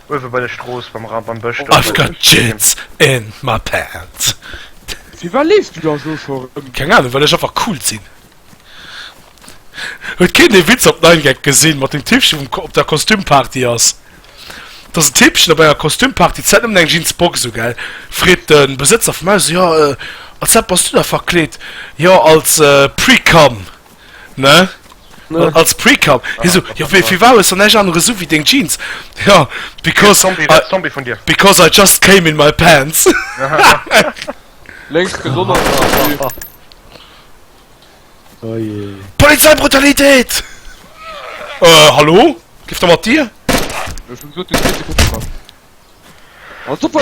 Uewe bei der Strooss beim Rapp am Bësch I've got jizz in my pants Fir wat leefs du da elo scho rëm? Keng Ahnung, well ech einfach cool sin. Huet keen dee Witz op 9gag gesin mat dem Typchen vum op der Kostüm Party ass? Dass en Typchen op enger Kostüm Party d'Zäit nëmmen eng Jeans Box u gell? Freet den Besëtzer vum Haus, jo, als wat bass du da verkleet? Jo, als Pre-Cum. ne? Als Precap hi so jo wéi fir wales an ech anere sou wéi deng Jeans jo because because I just came in my pants lénks gesonner Polizei Brutalitéit hallo giff der mat dir super.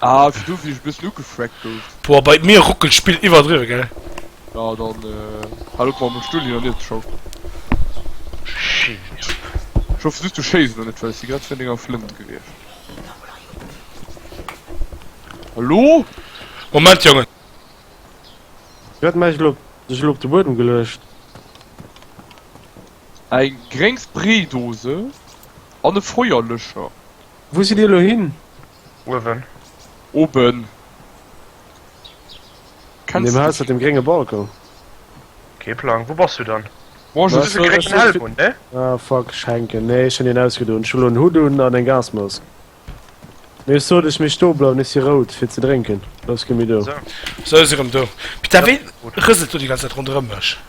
Ah, ass du wéi ech bëssen ugefrackt gouf. Boah bei mir ruckelt d'Spill iwwerdriwwe gell. Ja dann hal op mam Stull hin an hier ze schaufen. Shit. Ech hoffen just du schéiss elo net well ech si grad virun denger Flënt gewiescht. Hallo? Moment Jongen. Wat mach ech elo? Sech elo op de Buedem geluecht. Eng gréng Spraydose an e Feuerlöscher. Wou sidd dir elo hin? Uewen. Oben. An deem Haus mat dem grénge Balcon? Kee Plang. Wou bass du dann? Bon, ech hunn e gréngen Helm un, ne? Ah, fuck, ech hänken. Nee, ech hunn hien ausgedon. Ech hunn elo en Hutt un an eng Gasmask. Mee ech sot, ech mécht dobleiwen. Ech si rout fir ze drénken. Los, gi mir do. Esou. Esou, si rëm do. Peter, wéi rëselt do déi ganz Zäit ronderëm mech?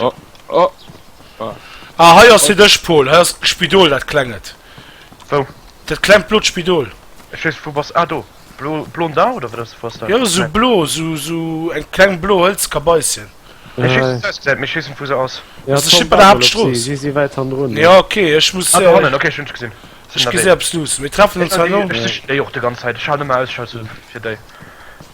Oh, oh. Ah. ah, hei ass fir dech, Paul. Hei ass Spidol, dat klenget. Wou? Dat klengt blot Spidol. Ech weess, wou bass. Ah, do. Blo, blon da, oder wat ass, was da? Jo, sou blo, sou, sou eng kleng blo Hëlzkabaisschen. Ech weess, wou se ausgesäit, mee ech weess net, wou se ass. Ja, ass ech net bei der Haaptstrooss. Si si wäit han drun. Ja, okay, ech muss. Ah, do hannen, okay, ech hunn sech gesinn. Ech gesi eppes luussen. Mir treffen ons hei no. Ech sichen déi och déi ganz Zäit. Ech halen ëmmer Ausschau, sou fir déi.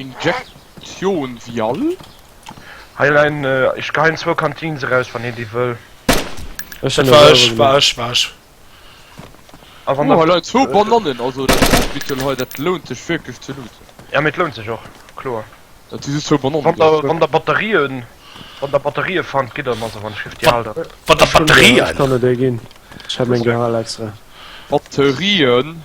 Injektioun vial. Hei leien ech geheim zwou Cantines eraus wann een déi wëll. Ech hun selwer gemecht. Oh hei leien zwou Banannen, also dat Lebensmittel hei dat lount sech wierklech ze looten. Ja mee et lount sech och, kloer. Dat si just zwou Banannen. Wann der Batterien, wann der Batterien fannt gitt der mer se, wann ech richteg alt sinn. Wann der Batterien. Ech kann der déi ginn, ech hat meng geholl extra. Batterien.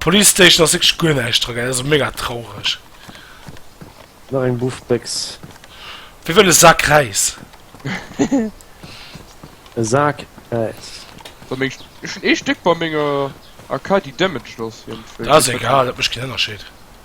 Police Station ass wierklech guer näischt dra, gell? Also mega traureg. Nach eng Buffbécks. Wie wëll e Sak Räis? E Sak Räis. So meng ech hunn ee Stéck bei menger AK déi damaged ass iergendwéi. Dat ass egal, dat mécht keen Ënnerscheed.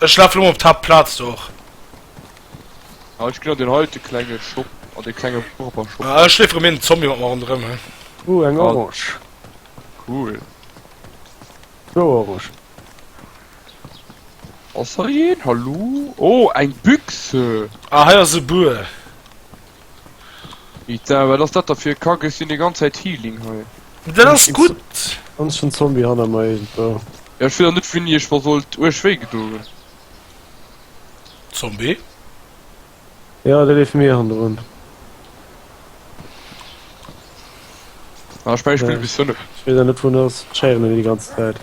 Ech laf lo op d'Haapt Plaz do och. Ah ech ginn an den heite klenge Shop an de klenge Purper Shop. Ah ech leef erëm een Zombie mat mer ronderëm he. Ooh eng Orange. Cool. Zwou Orange. Ass hei een? Hallo? Oh eng Büchse! Ah hei ass e Buer. Ita, wat ass dat da fir e Kack? Ech sinn déi ganz Zäit Healing hei. Dat ass gutt! An ech hunn Zombie hanner mer iergendwou. Ja, ech wéss och net wéini ech mer sollt uerg wéi gedo hunn. Zombie? Ja, dee leeft mir hannerun. Ah, ech mengen ech spillen bis 5. Ech weess awer net wou en ass. Ech héieren en déi ganz Zäit.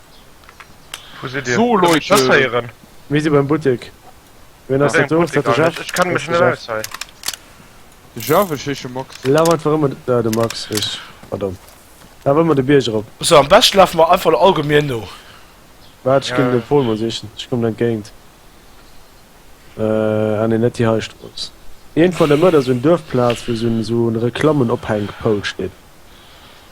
So Leit, mir si beim Buttek. Wien ass dat do? Ass dat de Jeff? Ech kenne mech net aus hei. De Jeff, ech heesche Max. Laf einfach ëmmer, ah de Max, richteg, pardon. Laf ëmmer de Bierg erop. Sou, am beschten lafe mer einfach der Allgemien no. Waart, ech ginn de Paul mol sichen, ech kommen entgéint. Ah nee, net déi hei Strooss. Iergendwann dermat ass sou en Duerfplaz, wou sou en Reklammen-Ophänk-Pôle steet.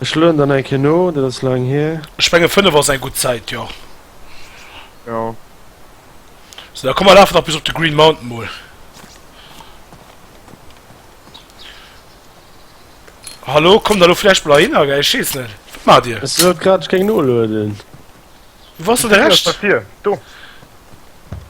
Ech lueden dann eng Kéier no, dat ass laang hier. Ech menge 5 ass eng gutt Zäit, jo. Jo. Sou, da komm mer lafen nach bis op de Green Mountain mol. Hallo, kommt der elo vläicht mol ahinner, gell? Ech weess net. Wat maacht Dir? Ech sot grad, ech géing nolueden. Wou ass dann de Rescht? Hei, do.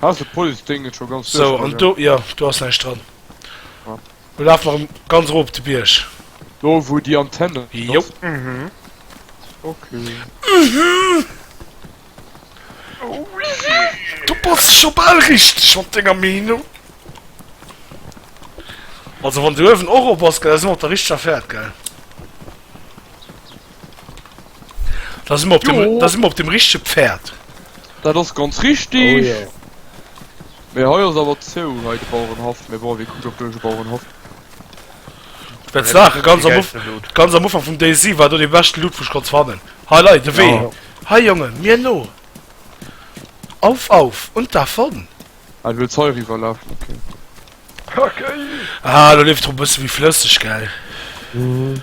Ass de Police Ding net scho ganz duerch? Sou, an do, jo, do ass näischt dran. Ah. Lo laf mer erëm ganz erof op de Bierg. Do wou déi Antenne ass? Jo. Mhm. Okay. Du bass scho bal richteg mat denger Meenung. Also wann de Uewen och op ass, gell, da si mer op der richteger Fäert, gell. Da si mer op dem, da si mer op dem richtige Pferd. Dat ass ganz richtig. Oh, ja. Mee hei ass awer zou hei de Bauerenhaff, mee bon, wie kuckt op duerch de Bauerenhaff? Dat Ja, Sache ganz am, Uf geilste Loot. ganz am Ufank vum Daisy war do de beschte Loot, wou ich konnt fannen. Hei Leit, de Wee. Ja. Hei Jonge, mir no. Auf, auf und davon. Ah, du wëlls hei riwwer lafen, okay. Kacke! Ah, do leeft drop bësse wéi flësseg, gell? Mhm.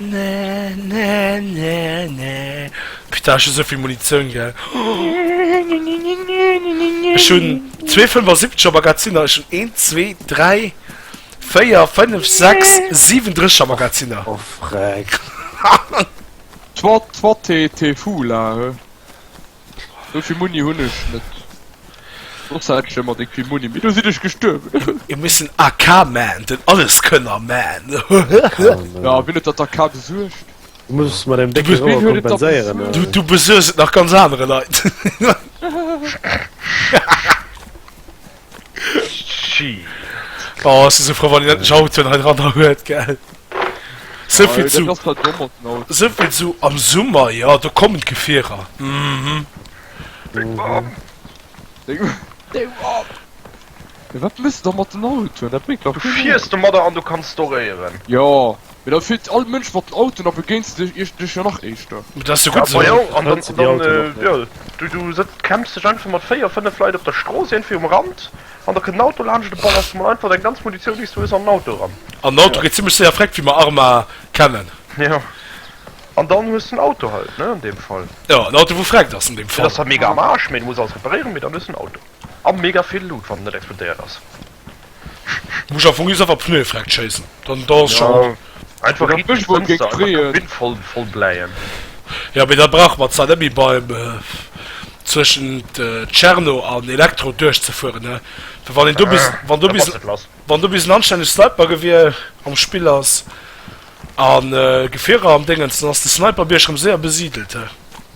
Nä nä nä nä Peter ech hu souvill Munitioun gell Ech hunn zwee 75er Magazinner Ech hunn een zwee dräi véier fënnef sechs siwen 30 er Magazinner Oh freck Toi toi t'es t'es fou là he. Souvill Muni hunn ech net. Soss hätt ech ëmmer déck vill Muni, mee do sinn ech gestuerwen. Mir mussen AK man, den Alleskönner man. Ja, wien huet dat AK besuergt? Du muss mat engem décke Rauer kompenséieren. Du besuergs et nach ganz anere Leit. Oh ech si sou frou wann een endlech Autoen hei dranner huet gell. Souvill zu souvill zu am Summer jo do kommen d'Gefierer. Wat muss der mat den Autoen dat bréngt dach. Du fiers domadder an du kanns doréieren. Jo Mee da fiert all Mënsch mat den Autoen a begéinst de Iech dech jo nach éischter. Mee dat ass jo gutt esou. Majo, an dann, an dann, jo, du, du sëtz, campst dech einfach mat véier, fënnef Leit op der Strooss iergendwéi um Rand, an da kënnt en Auto laanscht, de ballerst emol einfach deng ganz Munitioun, déi s du hues, an den Auto eran. An den Auto geet zimmlech séier vreckt, wéi mer Arma kennen. Jo, an dann hues de en Auto halt, ne, an deem Fall. Jo, en Auto, wou vreckt ass an deem Fall. Dann ass dat mega am Aarsch, mee du muss alles reparéieren, mee dann hues de en Auto. A mega vill Loot, wann en net explodéiert ass. Muss a Fong is awer Pneue freckt schéissen, dann dann ass scho gutt. Einfach riit an d'Fënster, einfach de Wind voll voll bläien. Jo, mee da brauche mer zwar net méi beim zwëschent Tscherno an Elektro duerchzefueren, ne? Well wann een do bis wann do bis wann do bis en anstänneg Snipergewier am Spill ass a Gefierer am Déngens, dann ass de Sniperbierg rëm séier besidelt, he.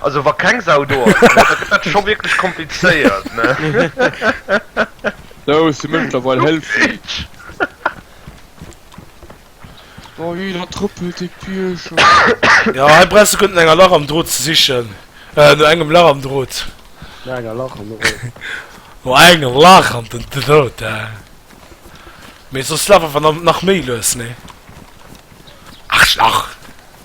Also wa keng Sau do ass, da gëtt dat scho wierklech komplizéiert, ne? Sou, ech si mëttlerweil hëlfreg. Oh jee, dat trëppelt dee Bierger. Ja, hei brauchs de guer net no enger Lach am Drot ze sichen. No engem Lach am Drot. No enger Lach am Drot. No engem Lach am Drot, he? Mee soss laf einfach nach méi lues, ne? Aarschlach!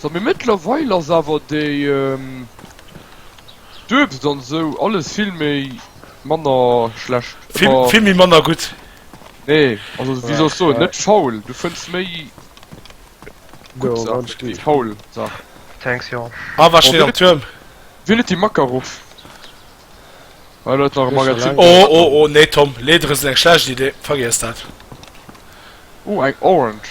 So mee mëttlerweil ass awer déi Duebs an sou alles vill méi manner schlecht emmer. Vill méi manner gutt. Nee also wéi soll ech soen net faul du fënns méi gutt Saachen wéi faul Saachen. Thanks Jon. Ah war steet am Tuerm. Wien huet déi Makarov? Hei läit nach e Magazin. Oh oh oh nee Tom, Leeder ass eng schlecht Idee, vergiess dat. Oh eng Orange.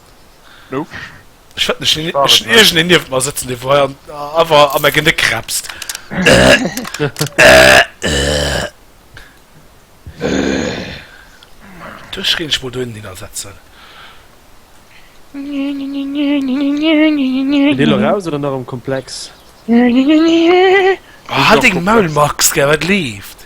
Ech hat nech egen en nieft mer sëtzen, dee wou hei awer a mer Genéck kräpst. Dech géing ech mol dohinnen hinnersetzen. Geet ee lo raus oder nach am Komplex? Hal deng Maul Max, gell, wat leeft?